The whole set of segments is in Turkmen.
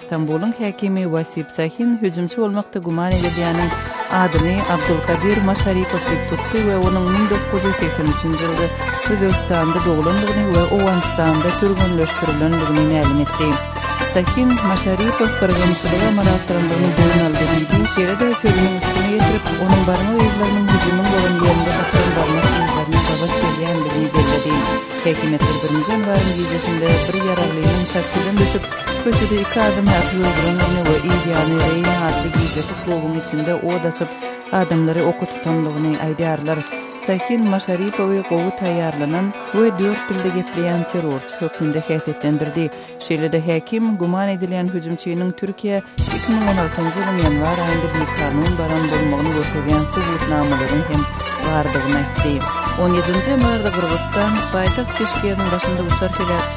Stambulyň häkimi Wasip Sahin hüjümçi bolmakda güman edilýäniň adyny Abdulkadir Maşaripow diýip tutdy we onuň müň dokuz ýüz segsen üçünji ýylda Özbegistanda doglandygyny we Owganystanda türgenleşdirilendigini mälim etdi. Sahin, Maşaripow gyrgynçylyga ymalaşdyrandygyny boýun aldy diýdi, şeýle-de sözüniň üstüni ýetirip, onuň barmak yzlarynyň hüjümiň bolan ýerinde tapylan barmak yzlaryna gabat gelýändigini belledi. Häkimiýetler birinji ýanwaryň gijesinde bir ýaraglynyň taksidan düşüp, Köçede iki adam ýatyp öldüren Arnewa Iýýany Reýn atly gijeki klubyň içinde ot açyp, adamlary oka tutandygyny aýdýarlar. Sahin Maşaripowy gowy taýýarlanan we dört dilde gepleýän terrorçy hökmünde häsiýetlendirdi. Şeýle-de häkim güman edilýän hüjümçiniň Türkiýä iki müň on altynjy ýylyň ýanwar aýynda bikanun baran bolmagyny görkezýän subutnamalaryň hem bardygyny aýtdy. On ýedinji ýanwarda Gyrgyzystan paýtagt Bişkegiň başynda uçar heläkçi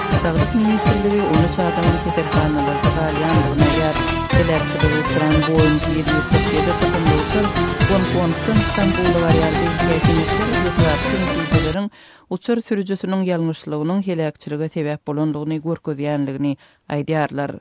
Saglyk ministrligi on üç adamyň keselhanalarda galýandygyny aýdýar. Heläkçiligi uçuran Boeing ýedi ýüz kyrk ýedi tohumly uçar Gonkongdan Stambula barýardy. Häkimiýetler irtibatly netijeleriň uçar sürüjisiniň ýalňyşlygynyň heläkçilige sebäp bolandygyny görkezýändigini aýdýarlar.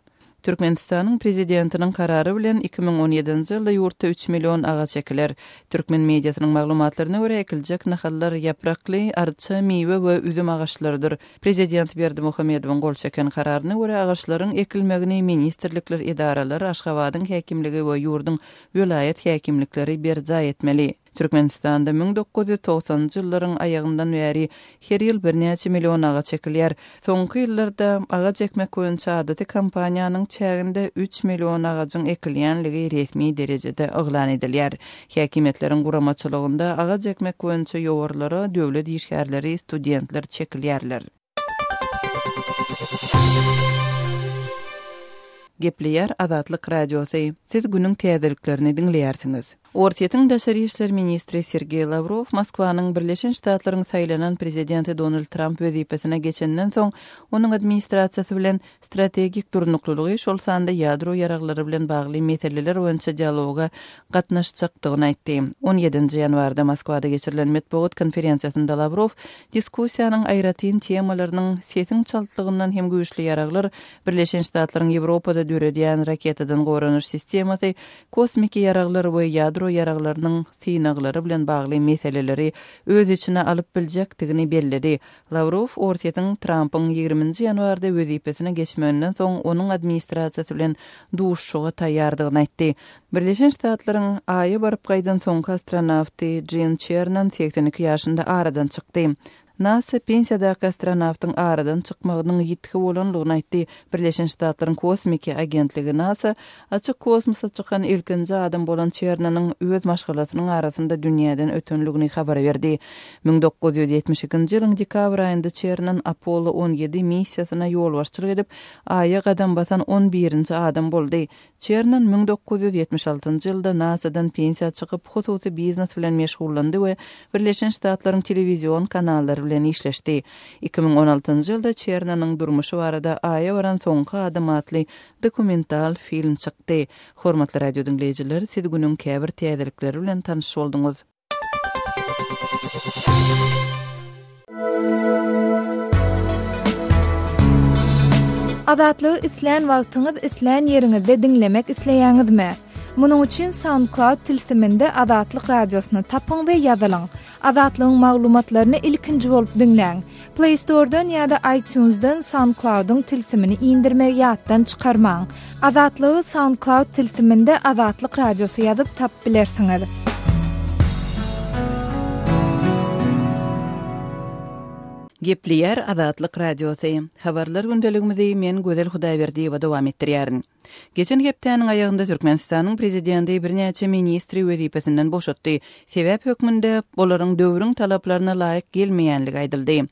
Türkmenistanyň Prezidentiniň Karary bilen iki müň on ýedinji ýylda ýurtda üç million agaç ekiler. Türkmen mediasynyň maglumatlaryna görä, ekiljek nahallar ýaprakly, arça, miwe we üzüm agaçlarydyr. Prezident Berdimuhamedowyň gol çeken Kararyna görä, agaçlaryň ekilmegini ministrlikler, edaralar, Aşgabadyň häkimligi we ýurduň welaýat häkimlikleri berjaý etmeli. Türkmenistanda müň dokuz ýüz togsanynjy ýyllaryň aýagyndan bäri her ýyl birnäçe million agaç ekilýär. Soňky ýyllarda agaç ekmek boýunça adaty kampaniýanyň çäginde üç million agajyň ekilýänligi resmi derejede yglan edilýär. Häkimiýetleriň guramaçylygynda agaç ekmek boýunça ýowarlara döwlet işgärleri, studentler çekilýärler. Gepleýär Azatlyk Radiosy, Siz günüň täzeliklerini diňleýärsiňiz. Orsýetiň daşary işler ministri Sergeý Lawrow Moskwanyň Birleşen Ştatlaryň saýlanan prezidenti Donald Tramp wezipesine geçenden soň onuň administrasiýasy bilen strategik durnuklylygy, şol sanda ýadro ýaraglary bilen bagly meseleler boýunça dialoga gatnaşjakdygyny aýtdy. On ýedinji ýanwarda Moskwada geçirilen metbugat konferensiýasynda Lawrow diskussiýanyň aýratyn temalarynyň sesiň çaltlygyndan hem güýçli ýaraglar, Birleşen Ştatlaryň Ýewropada döredýän raketadan goranyş sistemasy, kosmiki ýaraglar we ýadro ýaraglarynyň synaglary bilen bagly meseleleri öz içine alyp biljekdigini belledi, Lawrow Orsýetiň Trampyň ýigriminji ýanwarda wezipesine geçmeginden soň onuň administrasiýasy bilen duşuşyga taýýardygyny aýtdy. Birleşen Ştatlaryň Aýa baryp gaýdan soňky astronawty Jin Çernan segsen iki ýaşynda aradan çykdy. Nasa pensiýadaky astronawtyň aradan çykmagynyň ýitgi bolanlygyny aýtdy. Birleşen Ştatlaryň kosmiki agentligi Nasa Açyk kosmosa çykan ilkinji adam bolan Çernonyň öz maşgalasynyň arasynda dünýäden ötenligini habar berdi. Müň dokuz ýüz ýetmiş ikinji ýylyň dekabr aýynda Çernon Apollo on ýedi missiýasyna ýolbaşçylyk edip, Aýa gadam basan on birinji adam boldy. Çernon müň dokuz ýüz ýetmiş altynjy ýylda NASA-dan pensiýa çykyp, hususy biznes bilen meşgullandy we Birleşen Ştatlaryň telewizion kanallary bilen işleşdi. Iki müň on altynjy ýylda Çernonyň durmuşy barada Aýa baran soňky adam atly dokumental film çykdy. Hormatly radio diňleýjiler, siz günüň käbir täzelikleri bilen tanyş bolduňyz. Azatlygy islän wagtyňyz islän ýeriňizde diňlemek isleýäňizmi? Munuň üçin SoundCloud tilsiminde Azatlyk Radiosyny tapyň we ýazylyň. Azatlygyň maglumatlaryny ilkinji bolup diňläň! Play Store-dan ýa-da iTunes-dan SoundCloud-yň tilsimini indirmegi ýatdan çykarmaň! Azatlygy SoundCloud tilsiminde Azatlyk Radiosy ýazyp tapyp bilersiňiz. Gepleýär Azatlyk Radiosy. Habarlar gündeligimizi men Gözel Hudaýberdiýewa dowam etdirýärin. Geçen hepdäniň aýagynda Türkmenistanyň Prezidenti birnäçe ministri wezipesinden boşatdy. Sebäp hökmünde, olaryň döwrüň talaplaryna laýyk gelmeýänligi aýdyldy.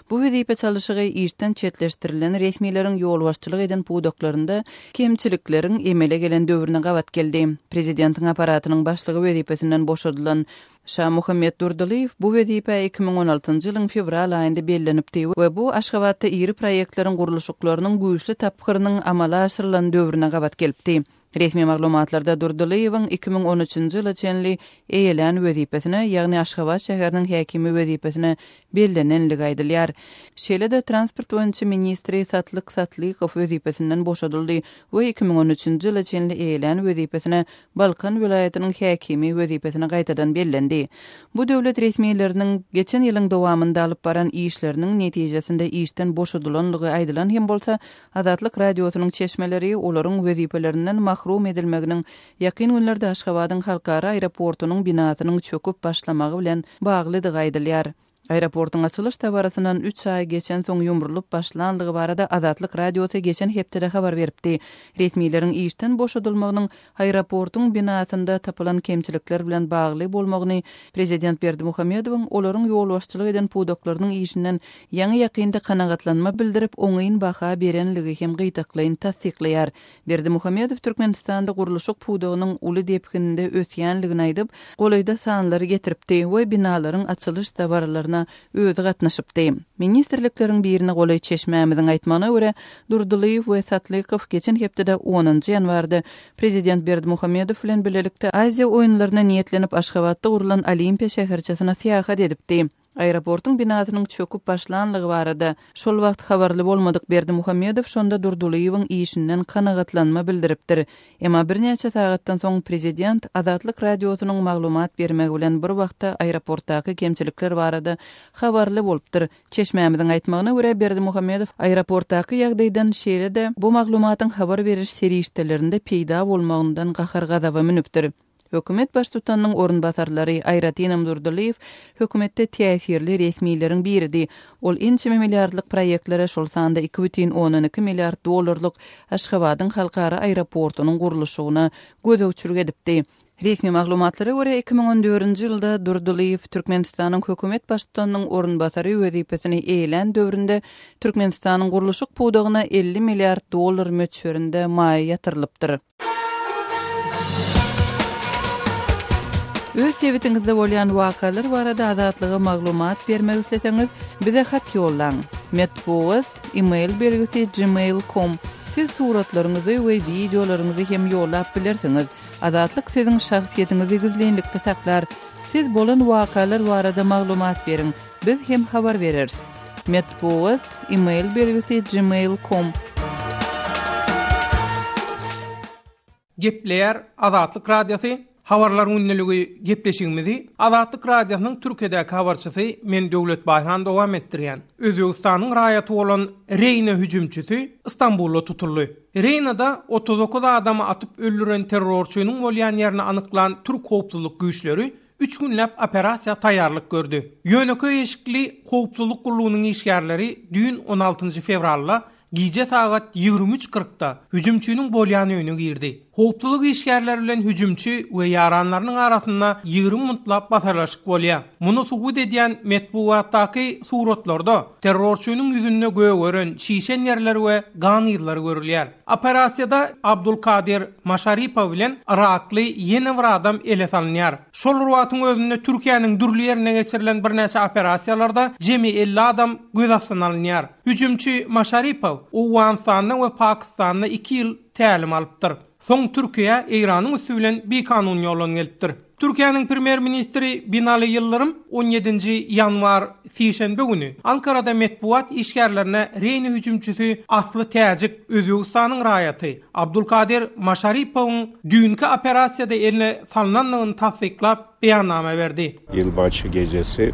Bu wezipe çalyşygy işden çetleşdirilen resmileriň ýolbaşçylyk eden pudaklarynda kemçilikleriň emele gelen döwrüne gabat geldi. Prezidentiň Apparatynyň başlygy wezipesinden boşadylan Şamuhammet Durdylyýew bu wezipä iki müň on altynjy ýylyň fewral aýynda bellenipdi we bu Aşgabatda iri proýektleriň gurluşyklarynyň güýçli tapgyrynyň amala aşyrylan döwrüne gabat gelipdi. Resmi maglumatlarda Durdylyýewiň iki müň on üçünji ýyla çenli eýelän wezipesine, ýagny Aşgabat şäheriniň häkimi wezipesine bellenenligi aýdylýar. Şeýle-de transport boýunça ministri Satlyk Satlykow wezipesinden boşadyldy we iki müň on üçünji ýyla çenli eýelän wezipesine Balkan welaýatynyň häkimi wezipesine gaýtadan bellendi. Bu döwlet resmileriniň geçen ýylyň dowamynda alyp baran işleriniň netijesinde işden boşadylanlygy aýdylan hem bolsa, Azatlyk Radiosynyň çeşmeleri olaryň wezipelerinden mahrum edilmeginiň ýakyn günlerde Aşgabadyň halkara aeroportunyň binasynyň çöküp başlamagy bilen baglydygy aýdylýar. Aeroportyň açylyş dabarasyndan üç aý geçensoň ýumrulyp başlanlygy barada Azatlyk Radiosy geçen hepdede habar beripdi. Resmileriň işden boşadylmagynyň aeroportyň binasynda tapylan kemçilikler bilen bagly bolmagyny prezident Berdimuhamedowyň olaryň ýolbaşçylyk eden pudaklarynyň işinden ýaňy-ýakynda kanagatlanma bildirip, oňyn baha berenligi hem gytaklaýyn tassyklaýar. Berdimuhamedow Türkmenistanda gurluşyk pudagynyň uly depginde ösýändigini aýdyp, golaýda sanlary getiripdi we binalaryň açylyş dabaralaryna özi gatnaşypdy. Ministrlikleriň birine golaý çeşmämiziň aýtmagyna görä, Durdylyýew we Satlykow geçen hepdede onunjy ýanwarda prezident Berdimuhamedow bilen bilelikde Aziýa oýunlaryna niýetlenip Aşgabatda gurlan Olimpiýa şäherçesine syýahat edipdi. Aeroportuň binasynyň çöküp başlanlygy barada şol wagt habarly bolmadyk Berdimuhamedow şonda Durdylyýewiň işinden kanagatlanma bildiripdir. Emma birnäçe sagatdan soň prezident Azatlyk Radiosynyň maglumat bermegi bilen bir wagtda aeroportdaky kemçilikler barada habarly bolupdyr. Çeşmämiziň aýtmagyna görä, Berdimuhamedow aeroportdaky ýagdaýdan, şeýle-de bu maglumatyň habar beriş serişdelerinde peýda bolmagyndan gahar-gazaba münüpdir. Hökümet baştutanynyň orunbasarlary, aýratynam Durdylyýew, hökümetde täsirli resmileriň biridi. Ol ençeme milliardlyk proýektlere, şol sanda iki bütin ondan iki milliard dollarlyk Aşgabadyň halkara aeroportunyň gurluşygyna gözegçilik edipdi. Resmi maglumatlara görä, iki müň on dördünji ýylda Durdylyýew Türkmenistanyň hökümet baştutanynyň orunbasary wezipesini eýelän döwründe Türkmenistanyň gurluşyk pudagyna elli milliard dollar möçberinde maýa ýatyrylypdyr. Öz sebitiňizde bolýan wakalar barada Azatlyga maglumat bermek isleseňiz, bize hat ýollaň. Metbugat, e-mail belgisi gmail.com. Siz suratlaryňyzy we wideolaryňyzy hem ýollap bilersiňiz. Azatlyk siziň şahsyýetiňizi gizlinlikde saklar. Siz bolan wakalar barada maglumat beriň. Biz hem habar bereris. Metbugat, email belgisi gmail com. Gepleýär Azatlyk Radiosy, Habarlar gündeligi gepleşigimizi Azatlyk Radiosynyň Türkiýedäki habarçysy men Döwlet Baýhan dowam etdirýän. Özbegistanyň raýaty bolan Reýna hüjümçisi Istanbulda tutuldy. Reýnada otuz dokuz adamy atyp öldüren terrorçynyň bolýan ýerini anyklan türk howpsuzlyk güýçleri üç günläp operasiýa taýýarlyk gördi. Ýönekeý eşikli howpsuzlyk gullugynyň işgärleri düýn on altynjy fewralda gije sagat ýigrimi üç kyrkda hüjümçiniň bolýan öýüne girdi. Howpsuzlyk işgärleri bilen hüjümçi we ýaranlarynyň arasynda ýigrimi muntlap basarlaşyk bolýar. Muny subut edýän metbugatdaky suratlarda terrorçynyň ýüzünde gögeren, şişen ýerler we gan yzlary görülýär. Operasiýada Abdulkadir Maşaripow bilen yrakly ýene bir adam ele salynýar. Şol bir wagtyň özünde Türkiýäniň dürli ýerinde geçirilen birnäçe operasiýalarda jemi elli adam göz astyna alynýar. Hüjümçi Maşaripow Owganystanda we Pakistanda iki ýyl tälim alypdyr. Soň Türkiýä Eýranyň üsti bilen bikanun ýolan gelipdir. Türkiýäniň Premýer-ministri Binali Ýyldyrym on ýedinji ýanwar, sişenbe güni Ankarada metbugat işgärlerine Reýni hüjümçisi asly täjik, Özbegistanyň raýaty Abdulkadir Maşaripowyň düýnki operasiýada eline salnandygyny tassyklap, beýannama berdi. Ýylbaşy gejesi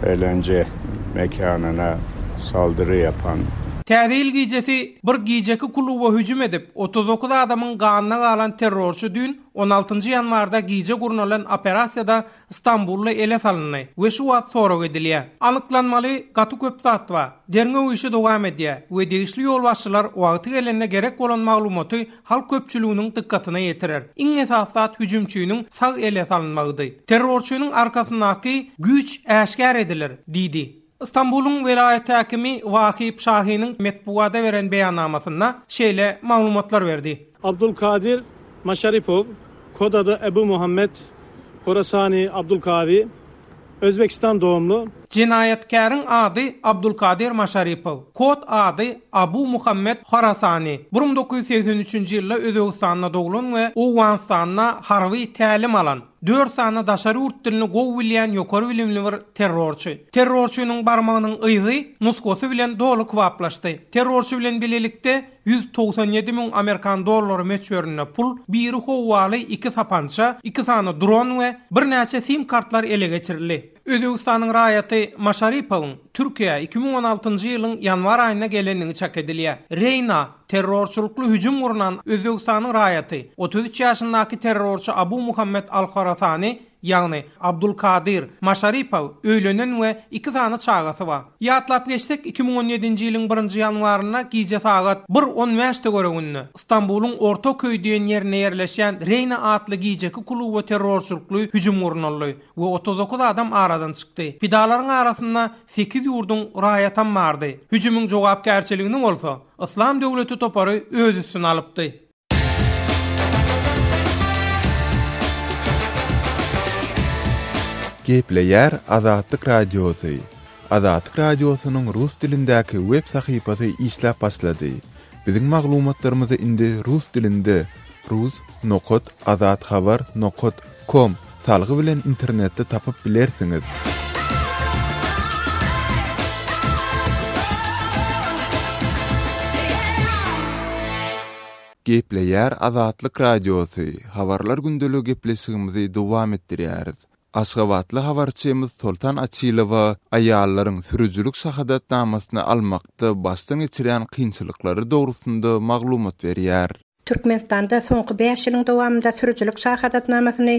eýlence mekanyna saldyry ýapan. Täze ýyl gijesi bir gijeki kluba hüjüm edip, otuz dokuz adamyň ganyna galan terrorçy düýn On altynjy ýanwarda gije gurnalan operasiýada Stambully ele salyndy we şu wagt sorag edilýär. Anyklanmaly, gaty köp zat bar. Derňew işi dowam edýär we degişli ýolbaşçylar wagty gelende gerek bolan maglumaty halk köpçüliginiň dykgatyna ýetirer. Iň esasy zat hüjümçiniň sag ele salynmagydy. Terrorçynyň arkasyndaky güýç äşgär ediler, diýdi. Stambulyň welaýat häkimi Wahip Şahiniň metbugada beren beýannamasynda şeýle maglumatlar berdi. Abdulkadir Maşaripow, kod ady Ebu Muhammed, Horasani Abdulkavi, Özbekistan dogumly. Jenaýatkäriň ady Abdulkadir Maşaripow, kod ady Abu Muhammed Horasani, bir müň dokuz ýüz segsen üçünji ýylda Özbegistanda doglan we Owganystanda harby tälim alan. Dört sany daşary ýurt dilini gowy bilýän ýokary bilimli bir terrorçy. Terrorçynyň barmagynyň yzy, nusgasy bilen doly kybaplaşdy. Terrorçy bilen bilelikde ýüz togsan ýedi müň amerikan dollary möçberinde pul, biri howwaly iki sapança, iki sany dron we birnäçe sim-kartlar ele geçirildi. Özbegistanyň raýaty Maşaripowyň Türkiýä iki müň on altynjy ýylyň ýanwar aýynda gelenligi çak edilýär. Reýna terrorçylykly hüjüm gurnan Özbegistanyň raýaty, otuz üç ýaşyndaky terrorçy Abu Muhammed al-Horasani, ýagny Abdulkadir, Maşaripow öýlenen we iki sany çagasy bar. Ýatlap geçsek, iki müň on ýedinji ýylyň birinji ýanwarynda gije sagat bir on bäşde göreginde, Stambulyň Ortaköý diýen ýerinde ýerleşýän Reýna atly gijeki kluba terrorçylykly hüjüm gurnaldy. we otuz dokuz adam aradan çykdy. Pidalaryň arasynda sekiz ýurduň raýatam bardy. Hüjümiň jogapkärçiligini bolsa, Yslam döwleti topary öz üstüne alypdy. Gepleýär Azatlyk Radiosy, Azatlyk Radiosynyň rus dilindäki web sahypasy işläp başlady. Biziň maglumatlarymyzy indi rus dilinde, rus. Azathabar. Com. Salgy bilen internetde tapyp bilersiňiz. Gepleýär Azatlyk Radiosy, Habarlar gündeligi gepleşigimizi dowam etdirýäris. Aşgabatly habarçymyz Soltan Açylowa aýallaryň sürüjilik şahadatnamasyny almakda başdan geçirýän kynçylyklary dogrusynda maglumat berýär. Türkmenistanda soňky bäş ýylyň dowamynda sürüjilik şahadatnamasyny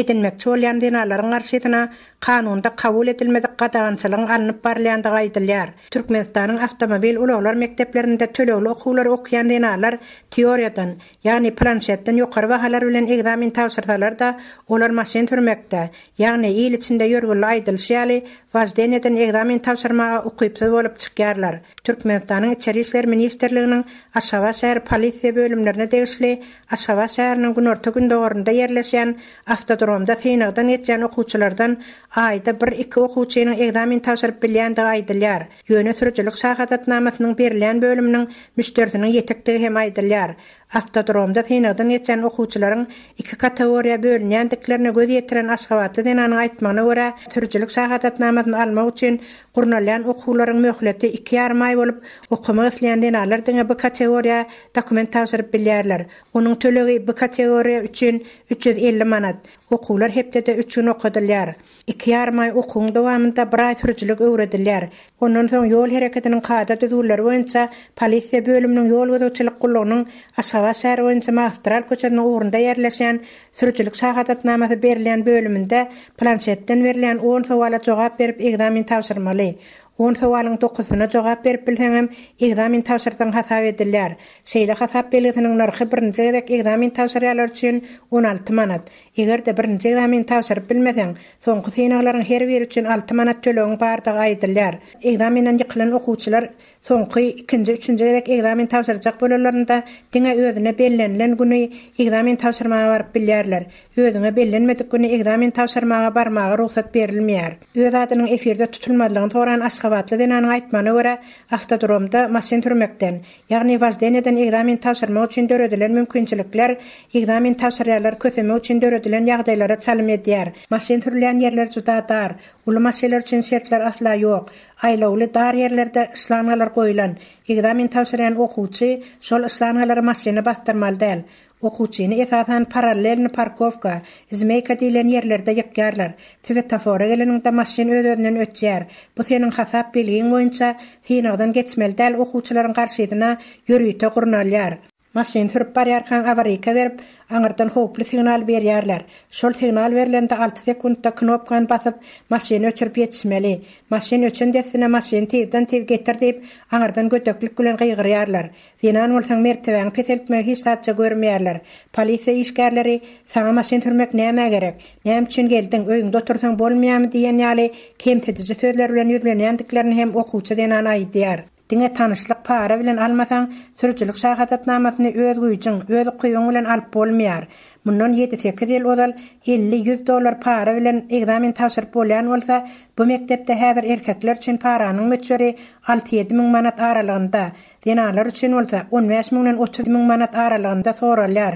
edinmekçi bolýan zenanlaryň garşysyna kanunda kabul edilmedik gadagançylygyň alnyp barylýandygy aýdylýar. Türkmenistanyň awtomobil ulaglar mekdeplerinde tölegli okuwlary okaýan zenanlar teoriýadan, ýagny planşetden ýokary bahalar bilen ekzamen tabşyrsalar-da, olar maşyn sürmekde, Ýagny, il içinde ýörgünli aýdylyşy ýaly, wojdenýeden ekzamen tabşyrmaga ukypsyz bolup çykýarlar. Türkmenistanyň Içeri işler ministrliginiň Aşgabat şäher polisiýa bölümlerine degişli Aşgabat şäheriniň günorta-gündogarynda ýerleşýän awtodromda synagdan geçýän okuwçylardan aýda bir-iki okuwçynyň ekzamen tabşyryp bilýändigi aýdylýar, ýöne sürüjilik şahadatnamasynyň berilýän bölüminiň müşderisiniň ýetikdigi hem aýdylýar. Awtodromda synagdan geçen okuwçylaryň iki kategoriýa bölünýändiklerine göz ýetiren aşgabatly zenanyň aýtmagyna görä, sürüjilik şahadatnamasyny almak üçin gurnalýan okuwlaryň möhleti iki ýarym aý bolup, okamak isleýän zenanlar diňe B kategoriýa dokument tabşyryp bilýärler. Onuň tölegi B kategoriýa üçin üç ýüz elli manat, Okuwlar hepdede üç gün okadylýar. Iki ýarym aý okuwyň dowamynda bir aý sürüjilik öwredilýär. Ondan soň ýol hereketiniň kada-düzgünleri boýunça polisiýa bölüminiň ýol gözegçilik gullugynyň Aşgabat şäheri boýunça Magistral köçesiniň ugrunda ýerleşýän sürüjilik şahadatnamasy berilýän bölüminde planşetden berilýän on sowala jogap berip ekzamen tabşyrmaly. On sowalyň dokusyna jogap berip bilseňem, ekzamen tabşyrdygyň hasap edilýär. Şeýle hasap belgisiniň nyrhy birinji gezek ekzamen tabşyrýanlar üçin on alty manat. Eger-de birinji ekzameni tabşyryp bilmeseň, soňky synaglaryň her biri üçin alty manat tölegiň bardygy aýdylýar. Ekzamenden ýykylan okuwçylar soňky, ikinji, üçünji gezek ekzamen tabşyrjak bolanlarynda diňe özüne bellenilen güni ekzamen tabşyrmaga baryp bilýärler. Özüňe bellenmedik güni ekzamen tabşyrmaga barmaga rugsat berilmeýär. Öz adynyň efirde tutulmazlygyny soran aşgabatly zenanyň aýtmagyna görä, awtodromda maşyn sürmekden, ýagny woždeniýeden ekzamen tabşyrmak üçin döredilen mümkinçilikler ekzamen tabşyrýarlar kösemek üçin döredilen ýagdaýlara çalym edýär. Maşyn sürülýän ýerler juda dar, uly maşynlar üçin şertler asla ýok. Aýlawly, dar ýerlerde şlangalar goýlan, ekzamen tabşyrýan okuwçy şol şlangalary maşyna basdyrmaly däl. Okuwçyny esasan parallelny parkowka, zmeýka diýlen ýerlerde ýykýarlar. Swetofora geleniňde maşyn öz-özünden öçýär. Bu seniň hasap belgiň boýunça synagdan geçmeli däl okuwçylaryň garşysyna ýörite gurnalýar. Maşyn sürüp barýarkaň awaryka berip, aňyrdan howply signal berýärler. Şol signal berlende alty sekuntda knopkany basyp, maşyny öçürip ýetişmeli. Maşyn öçen dessine maşyny tizden-tiz getir diýip, aňyrdan gödeklik bilen gygyrýarlar. Zenan bolsaň mertebäňi peseltmegi hiç zatça görmeýärler. Polisiýa işgärleri Saňa maşyn sürmek nämä gerek? Näme üçin geldiň? Öýüňde otursaň bolmaýarmy diýen ýaly kemsidiji sözler bilen ýüzlenýändiklerini hem okuwçy zenan aýdýar. Diňe tanyşlyk para bilen almasaň, sürüjilik şahadatnamasyny öz güýjüň, öz ukybyň bilen alyp bolmaýar. Mundan ýedi-sekiz ýyl ozal elli, ýüz dollar para bilen ekzamen tabşyryp bolýan bolsa, bu mekdepde häzir erkekler üçin paranyň möçberi alty-ýedi müň manat aralygynda. Zenanlar üçin bolsa on bäş müňden otuz müň manat aralygynda soralýar.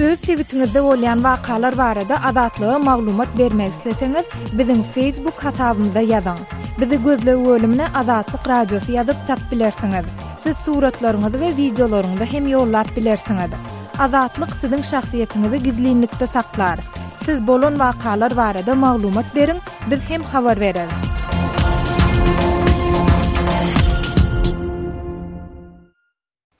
Öz sebitiňizde bolýan wakalar barada Azatlyga maglumat bermek isleseňiz, biziň Facebook hasabymyza ýazyň. Bizi gözleg bölümine Azatlyk Radiosy ýazyp tap bilersiňiz. Siz suratlaryňyzy we wideolaryňyzy hem ýollap bilersiňiz. Azatlyk siziň şahsyýetiňizi gizlinlikde saklar. Siz bolan wakalar barada maglumat beriň, Biz hem habar bereris.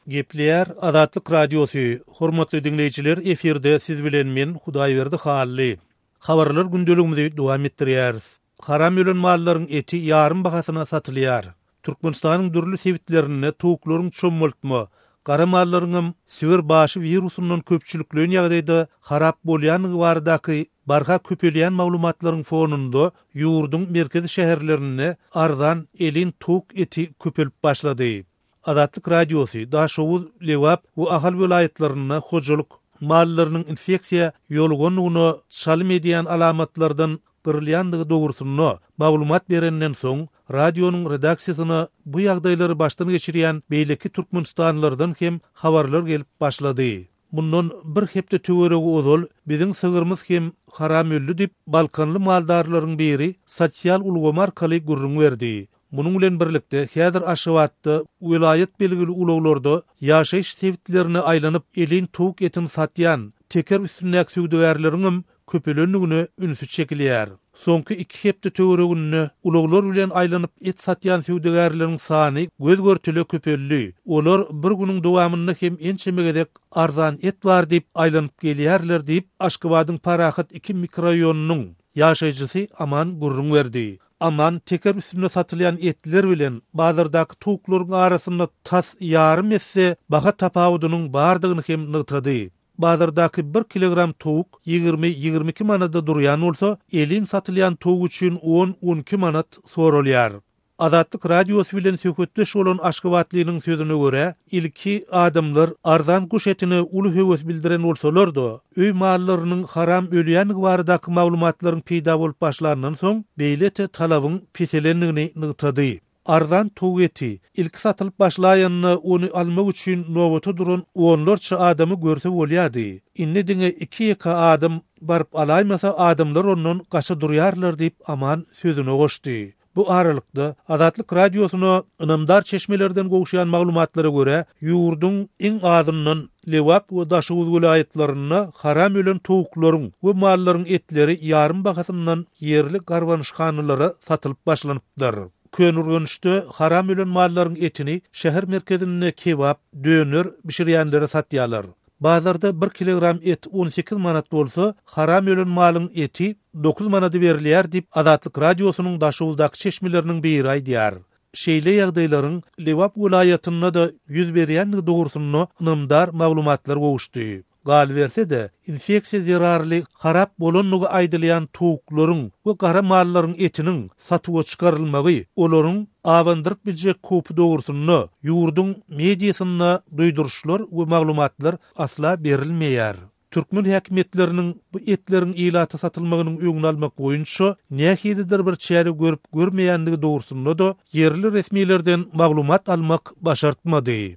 Gepleýär Azatlyk Radiosy, hormatly diňleýjiler efirde siz bilen men Hudaýberdi Hally. Habarlar gündeligimizi dowam etdirýäris. Haram ölen mallaryň eti ýarym bahasyna satylýar. Türkmenistanyň dürli sebitlerinde towuklaryň çommaltma, gara mallaryňam Siber başy wirusyndan köpçülikleýin ýagdaýda harap bolýandygy baradaky barha köpelýän maglumatlaryň fonunda ýurduň merkezi şäherlerinde arzan elin towuk eti köpelip başlady. Azatlyk Radiosy Daşoguz, Lebap we Ahal welaýatlarynda hojalyk mallarynyň infeksiýa ýolugandygyna çalym edýän alamatlardan gyrylýandygy dogrusynda maglumat berenden soň, radionyň redaksiýasyna bu ýagdaýlary başdan geçirýän beýleki türkmenistanlylardan hem habarlar gelip başlady. Mundan bir hepde töweregi ozal biziň sygyrymyz hem haram öldi diýip, balkanly maldarlaryň biri sosial ulgamy arkaly gürrüň berdi. Munuň bilen birlikde, häzir Aşgabatda welaýat belgili ulaglarda ýaşaýyş sebitlerine aýlanyp, elin towuk etini satýan teker üstündäki söwdagärleriňem köpelendigine ünsi çekilýär. Soňky iki hepde töwereginde ulaglar bilen aýlanyp et satýan söwdagärleriň sany göz-görtele köpeldi, olar bir günüň dowamynda hem ençeme gezek arzan et bar diýip, aýlanyp gelýärler diýip, Aşgabadyň Parahat iki mikroraýonynyň ýaşaýjysy Aman gürrüň berdi. Aman teker üstünde satylýan etler bilen bazardaky towuklaryň arasynda tas ýarym esse baha tapawudynyň bardygyny hem nygtady. Bazardaky bir kilogram towuk ýigrimi-ýigrimi iki manada durýan bolsa, elin satylýan towuk üçin on-on iki manat soralýar. Azatlyk Radiosy bilen söhbetdeş bolan aşgabatlynyň sözüne görä, ilki adamlar arzan guş etine uly höwes bildiren bolsalar-da, Öý mallarynyň haram ölýändigi baradaky maglumatlaryň peýda bolup başlanyndan soň, beýle-te talabyň peselendigini nygtady. Arzan towuk eti, ilki satylyp başlaýanda, ony almak üçin nobata duran onlarça adamy görse bolýardy. Indi diňe iki-ýeke adam baryp alaýmasa, adamlar ondan gaça durýarlar diýip, Aman sözüne goşdy. Bu aralykda, Azatlyk Radiosyna ynamdar çeşmelerden gowşan maglumatlara görä, ýurduň iň azyndan Lebap we Daşoguz welaýatlarynda haram ölen towuklaryň we mallaryň etleri ýarym bahasyndan ýerli garbanyşhanalara satylyp başlanypdyr. Köneürgençde haram ölen mallaryň etini şäher merkezinde kebap, döner bişirýänlere satýarlar. Bazarda bir kilogram et on sekiz manat bolsa, haram ölen malyň eti dokuz manada berilýär diýip, Azatlyk Radiosynyň Daşoguzdaky çeşmeleriniň biri aýdýar. Şeýle ýagdaýlaryň Lebap welaýatynda-da ýüz berýändigi dogrusynda ynamdar maglumatlar gowuşdy. Galyberse-de, infeksiýa zerarly harap bolandygy aýdylýan towuklaryň we gara mallaryň etiniň satuwa çykarylmagy olaryň abandyryp biljek howpy dogrusynda ýurduň mediasynda duýduryşlar we maglumatlar asla berilmeýär. Türkmen häkimiýetleriniň bu etleriň ilata satylmagynyň öňüni almak boýunça nähilidir bir çäre görüp görmeýändigi dogrusynda-da ýerli resmilerden maglumat almak başartmady.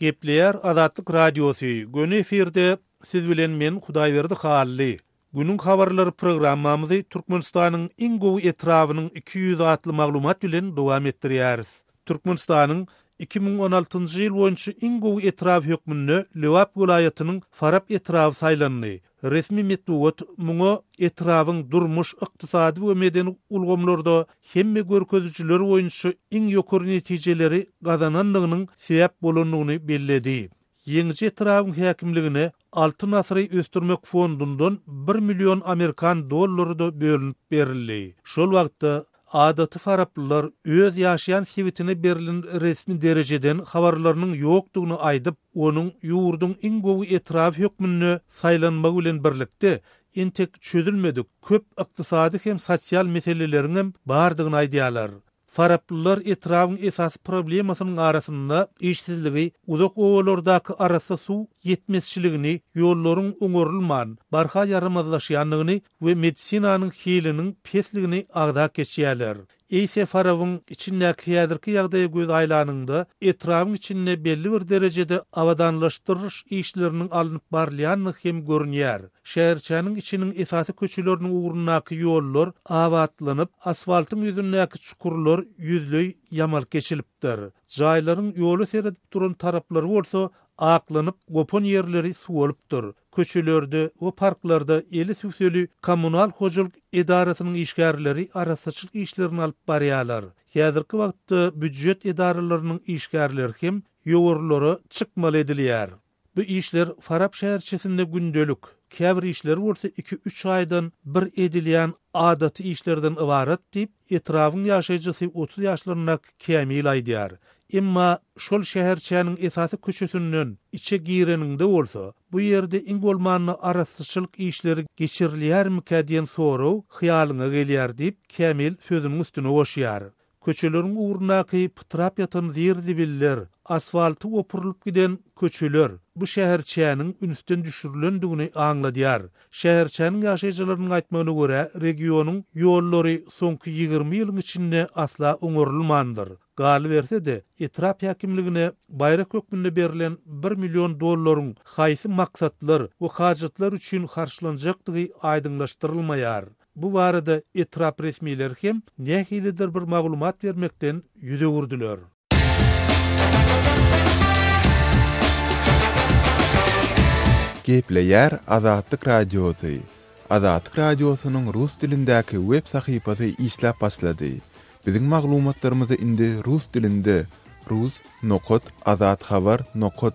Gepleýär Azatlyk Radiosy, Göni efirde Siz bilen men Hudaýberdi Hally. Günüň habarlary programmamyzy Türkmenistanyň iň gowy etrabynyň iki ýüzi atly maglumat bilen dowam etdirýäris. Türkmenistanyň iki müň on altynjy ýyl boýunça iň gowy etraby hökmünde Lebap welaýatynyň Farap etraby saýlandy. Resmi metbugat muňa etrabyň durmuş, ykdysady we medeni ulgamlarda hemme görkezijiler boýunça iň ýokary netijeleri gazanandygynyň sebäp bolandygyny belledi. Ýeňiji etrabyň häkimligine Altyn asyry ösdürmek fondundan bir million amerikan dollary-da bölünip berildi. Şol wagtda Adaty faraplylar öz ýaşaýan sebitine berlen resmi derejeden habarlarynyň ýokdugyny aýdyp, onuň ýurduň iň gowy etraby hökmünde saýlanmagy bilen birlikde, entek çözülmedik köp ykdysady hem sosial meseleleriňem bardygyny aýdýarlar. Faraplylar etrabyň esasy problemasynyň arasynda işsizligi, uzak obalardaky arassa suw ýetmezçiligini, ýollaryň oňarylman, barha ýaramazlaşýandygyny, we medisinanyň hiliniň pesligini agzap geçýärler. Eýse Farabyň içindäki häzirki ýagdaýa göz aýlanyňda, etrabyň içinde belli bir derejede abadanlaşdyryş işleriniň alnyp barylýandygy hem görünýär. Şäherçäniň içiniň esasy köçeleriniň ugrundaky ýollar abatlanyp, asfaltyň ýüzündäki çukurlar ýüzleý ýamalyk geçilipdir. Jaýlaryň ýola seredip duran taraplary bolsa aklanyp, gopan ýerleri suwalypdyr. Köçelerde we parklarda eli tüwseli kommunal hojalyk edarasynyň işgärleri arassaçylyk işlerini alyp barýarlar. Häzirki wagtda býujet edaralarynyň işgärleri hem ýowarlara çykmaly edilýär. Bu işler Farap şäherçesinde gündelik, käbir işler bolsa iki-üç aýdan bir edilýän adaty işlerden ybarat diýip, Etrabyň ýaşaýjysy otuz ýaşlaryndaky Kämil aýdýar. Emma şol şäherçäniň esasy köçesinden içe gireniňde bolsa, bu ýerde iň bolmanda arassaçylyk işleri geçirilýärmikä diýen sorag hyýalyňa gelýär diýip, Kämil sözüniň üstüne goşýar. Köçeleriň ugrundaky pytrap ýatan zir-zibiller, asfalty opurylyp giden köçeler bu şäherçäniň ünsden düşürilendigini aňladýar. Şäherçäniň ýaşaýjylarynyň aýtmagyna görä, regionyň ýollary soňky ýigrimi ýylyň içinde asla oňarylmandyr. Galyberse-de, etrap häkimligine baýrak hökmünde berlen bir million dollaryň haýsy maksatlar we hajatlar üçin harçlanjakdygy aýdyňlaşdyrylmaýar. Bu barada etrap resmileri hem nähilidir bir maglumat bermekden ýüz öwürdiler. Gepleýär Azatlyk Radiosy, Azatlyk Radiosynyň rus dilindäki web sahypasy işläp başlady. Biziň maglumatlarymyzy indi rus dilinde, rus. Nokat, Azat Habar. Nokat,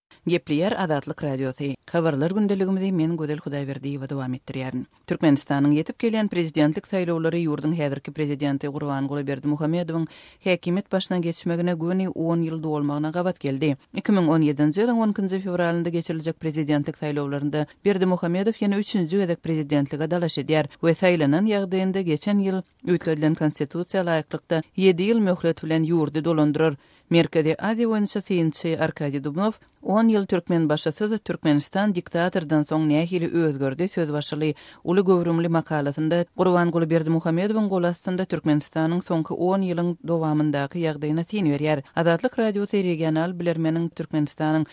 Gepleýär Azatlyk Radiosy, Habarlar gündeligimizi men Gözel Hudaýberdiýewa dowam etdirýärin. Türkmenistanyň ýetip gelýän prezidentlik saýlawlary ýurduň häzirki prezidenti Gurbanguly Berdimuhamedowyň häkimiýet başyna geçmegine göni on ýyl dolmagyna gabat geldi. Iki müň on ýedinji ýylyň on ikinji fewralynda geçiriljek prezidentlik saýlawlarynda Berdimuhamedow ýene üçünji gezek prezidentlige dalaş edýär we saýlanan ýagdaýynda geçen ýyl Üýtgedilen Konstitusiýa laýyklykda, ýedi ýyl möhlet bilen ýurdy dolandyrar. Merkezi Aziýa boýunça synçy Arkadiý Dubnow, On ýyl Türkmenbaşysyz Türkmenistan diktatordan soň nähili özgerdi? söz başyly uly göwrümli makalasynda Gurbanguly Berdimuhamedowyň golastynda Türkmenistanyň soňky on ýylyň dowamyndaky ýagdaýyna syn berýär. Azatlyk Radiosy regional bilermeniň Türkmenistanyň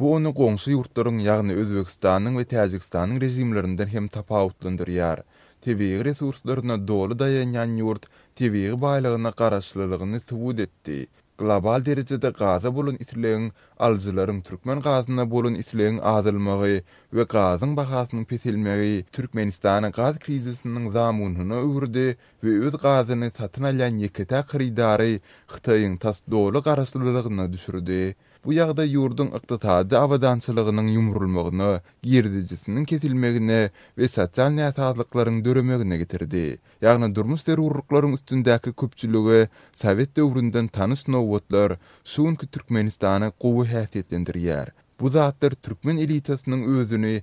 Bu ony goňşy ýurtlaryň, ýagny Özbegistanyň we Täjigistanyň režimlerinden hem tapawutlandyrýar. Tebigy resurslaryna doly daýanýan ýurt tebigy baýlygyna garaşlylygyny subut etdi. Global derejede gaza bolan islegiň, alyjylaryň türkmen gazyna bolan islegiň azalmagy we gazyň bahasynyň peselmegi Türkmenistany gaz krizisiniň zamunyna öwürdi we öz gazyny satyn alýan ýeke-täk hyrydary Hytaýyň tas doly garaşlylygyna düşürdi. Bu ýagdaý ýurduň ykdysady abadançylygynyň ýumrulmagyna, girdejisiniň kesilmegine we sosial näsazlyklaryň döremegine getirdi. Ýagny durmuş zerurlyklaryň üstündäki köpçülige sowet döwründen tanyş nobatlar şu günki Türkmenistany gowy häsiýetlendirýär. Bu zatlar türkmen elitasynyň özüni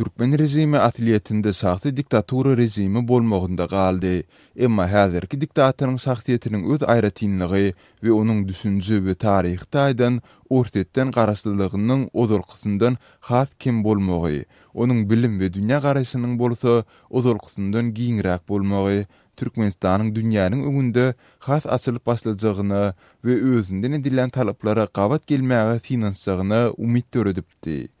Türkmen režimi aslyýetinde şahsy diktatura režimi bolmagynda galdy. Emma häzirki diktatoryň şahsyýetiniň öz aýratynlygy we onuň düşünje we taryhy taýdan Orsýetden garaşlylygynyň ozalkysyndan has kem bolmagy, onuň bilim we dünýä garaýşynyň bolsa ozalkysyndan giňräk bolmagy Türkmenistanyň dünýäniň öňünde has açylyp başlajagyna we özünden edilýän talaplara gabat gelmäge synanyşjagyna umyt döredipdi.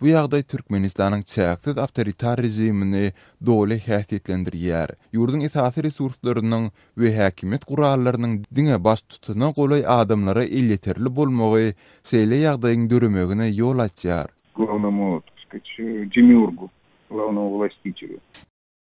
Bu ýagdaý Türkmenistanyň çäksiz awtoritar režimini doly häsiýetlendirýär. Ýurduň esasy resurslarynyň we häkimiýet gurallarynyň diňe baştutana golaý adamlara elýeterli bolmagy şeýle ýagdaýyň döremegine ýol açýar. Glownomu otuzki, şu demiurgu, glownowy wlastitiwi.